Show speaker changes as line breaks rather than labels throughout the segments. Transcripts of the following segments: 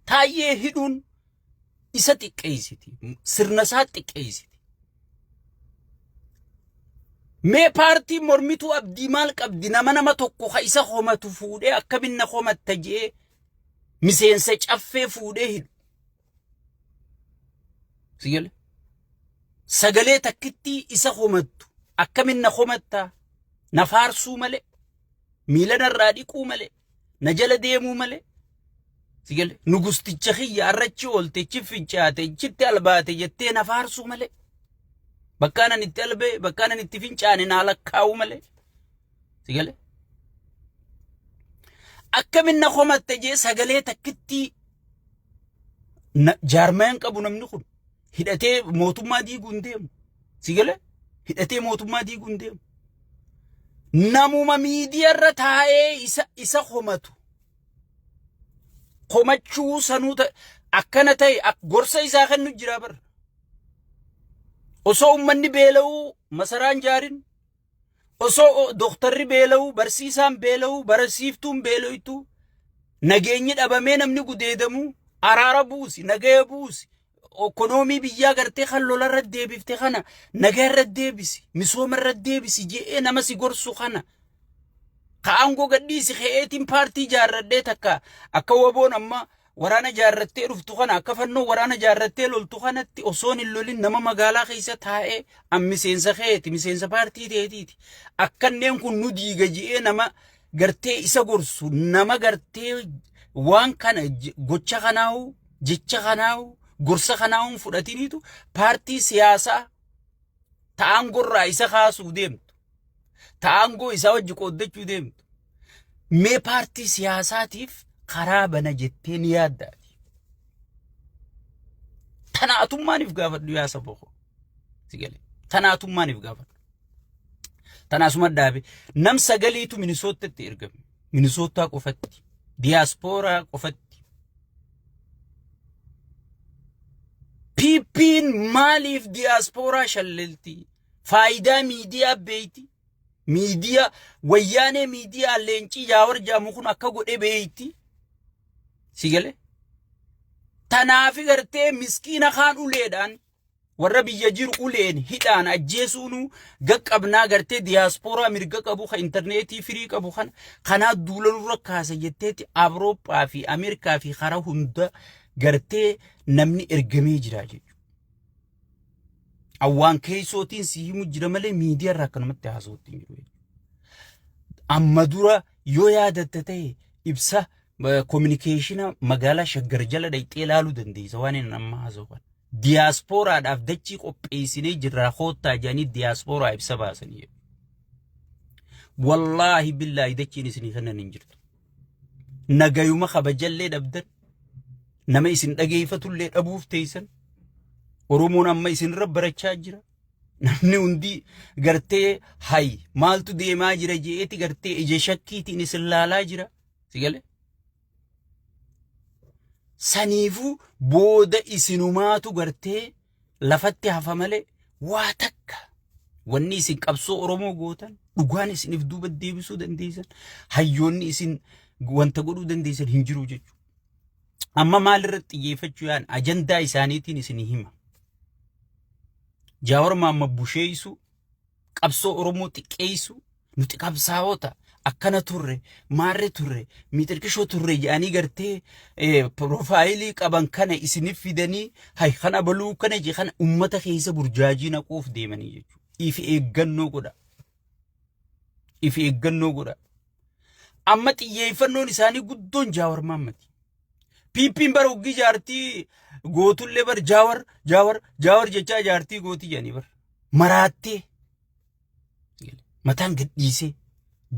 Taayyee hidhuun isa xiqqeessiti. Sirna isaa xiqqeessiti. Mee paartiin mormituu abdii maal qabdi nama nama tokko ka isa homatu fuudhee akkaminna homatta jee miseensa caffee fuudhee hidhu. Sigale. Sagalee takkittii isa homattu akkaminna homatta na faarsuu malee miila narraa dhiquu malee na jala deemuu malee si galee nugusticha kiyya arrachi oolte ichi fincaate ichitti albaate jettee na faarsuu malee bakkaan ani itti albee bakkaan ani itti fincaane naa lakkaa'uu malee si galee akkamin na komatte jee sagalee takkittii na- jaarmayaan qabu namni kun hidhatee mootummaa diiguu hin deemu. Si galee hidhatee mootummaa diiguu hin deemu. Namuma miidiyaarra taa'ee isa isa homatu. Komachuu sanuu ta'e akkana ta'e ak- gorsa isaa kennu jira bar. Osoo uummanni beela'uu masaraan jaarin Osoo doktarri beela'u, barsiisaan beela'u, barsiiftuun beela'u, nageenyi dhabamee namni gudeedamu, araara buusi, nagaya buusi, ekonoomii biyyaa gartee kan lola irra deebifte kana nagaya irra deebisi, misooma irra deebisi je'ee nama si gorsu kana. Ka aangoo gadhiisi ke'eetiin paartii jaarradhee takka akka waboon amma Waraana jaarrattee dhuftu kana akka fannoo waraana jaarrattee loltu kanatti osoon hin lolin nama magaalaa keessa taa'ee an miseensa keeti miseensa paartii teetiiti. Akkanneen kun nu diiga ji'ee nama gartee isa gorsu nama gartee waan kana je- gocha kanaahu jecha kanaahu gorsa kanaahu hin fudhatiniitu paartii siyaasaa ta'aan gorraa isa kaasuu deemtu. Ta'aangoo isaa wajji qooddachuu deemtu. Mee paartii siyaasaatiif karaa bana jettee ni yaadda ati. Tana atummaaniif gaafadhu yaa saba koo. Si galee. Tana atummaaniif gaafadhu. Tana asuma dhaabe. Nam sagaliitu Minisoottatti ergame. Minisoottaa qofatti. Diyaaspooraa qofatti. PP'n maaliif diyaaspooraa shallelti? Faayidaa miidiyaa beeyti? Miidiyaa wayyaanee miidiyaa leencii jaawar jedhamu kun akka godhe beeyitti si gale. Tanaafi gartee miskiina kaan uleedhaan warra biyya jiru uleen hidhaan ajjeesuunu gaqqabnaa gartee diyaaspooraa mirga qabu kan intarneetii firii qabu kana kanaa duula nurra kaasa jetteeti Awurooppaa fi Ameerikaa fi karaa hunda gartee namni ergamee jira jechuudha. Awwaan keessootiin si himu jira malee miidiyaa irraa akkanumatti haasawutti hin jiru. Amma dura yoo yaadatta ta'e ibsa kominikeeshina magaalaa Shaggar jala dhaqxee ilaaluu dandeessa waan inni amma haasa'u kana. Diyaaspooraadhaaf dachii qopheessinee jirraa koottaa jedhanii diyaaspooraa ibsa baasanii. Wallaahi billaahi dachiin isinii kennan hin jirtu. nagayuma kabajallee dhabdan nama isin dhageeffatullee dhabuuf teessan Oromoon amma isinirra barachaa jira. Namni hundi gartee hay maaltu deemaa jira je'eeti gartee ija shakkiitiin isin laalaa jira. Si galee? Saniifuu booda isinumaatu gartee lafatti hafa malee waa takka wanni isin qabsoo Oromoo gootan dhugaan isiniif duuba deebisuu dandeessan hayyoonni isin wanta godhuu dandeessan hin jiru jechuudha. Amma maalirratti xiyyeeffachuu yaan ajandaa isaaniitiin isin hima. Jaawar Maamma busheessu qabsoo Oromoo xiqqeessu nuti qabsaa'ota akkana turre maarre turre miixirqishoo turre jedhanii gartee eh, piroofaayilii qaban kana isinif fidanii hay kana baluu kana je kana ummata keessa burjaajii naquuf deemanii jechuudha. If eeggannoo godha. If eeggannoo godha. Amma xiyyeeffannoon isaanii guddoon jaawar maammati. Piippiin bara hoggii jaartii gootullee bar jaawar jaawar jaawar jechaa jaartii gootii jedhanii bar. maraattee mataan gadhiisee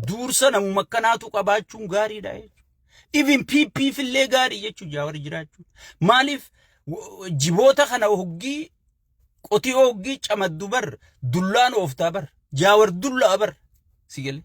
duursa namuma akkanaatu qabaachuun gaariidha jechuudha. Even PP fillee gaarii jechuun jaawar jiraachuu. Maaliif w- jiboota kana hoggii qotii hoggii camaddu bar dullaan ooftaa bar jaawar dullaa bar si galee.